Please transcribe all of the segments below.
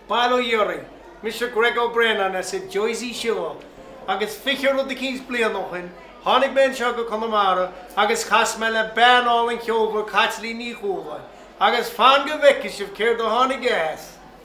Bail ó Dhia oraibh! Mise Greg Ó Braonáin as an Jersey Shore, agus fiche rud eicínt bliain ó shoin, tháinig mé anseo go Conamara agus chas mé le bean álainn cheolmhar Caitlín Ní Chualáin, agus fan go bhfeicfidh sibh céard a tháinig as!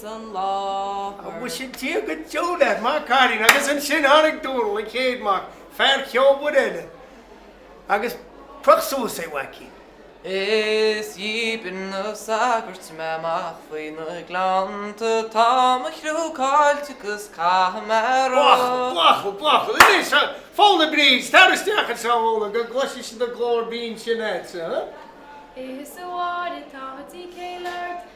san láthair. An bhfuil sin Dia go deo leat, maith an cailín? Agus ansin tháinig Dónall, an chéad mac, fear ceolmhar eile, agus croch suas é a mhaicín. Is dhíbir na sagairt mé amach faoi na gleannta, tá mo chlú caillte 'gus caithfidh mé rá. Buachaill, buachaill, buachaill, anois a phóna Bríd, tar isteach anseo a phóna go gcloisfinnse do ghlór binn sin a'dsa. Is a Mháire, tá díth céille ort.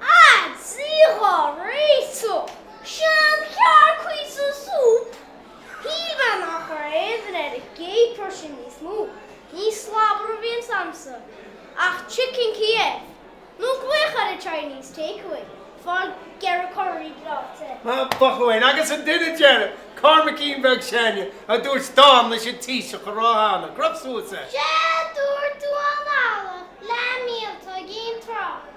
Ag triail dhá réiteach seanchearc cuí sa súp shíl mé nach chuir aon ar an gcéad pursin níos mó, ní slabhra a bhí insan am sin ach chicken Kiev nó glaoch ar an Chinese takeaway fáil gearradh curaí breáite. Ba chóir agus an duine deiridh, Cormaicín beag s'againne, a dúirt dán leis an Taoiseach a rá cheana, Croch suas é. Sea, dúirt Uan Fhaola, leath míolta ag aon tráth.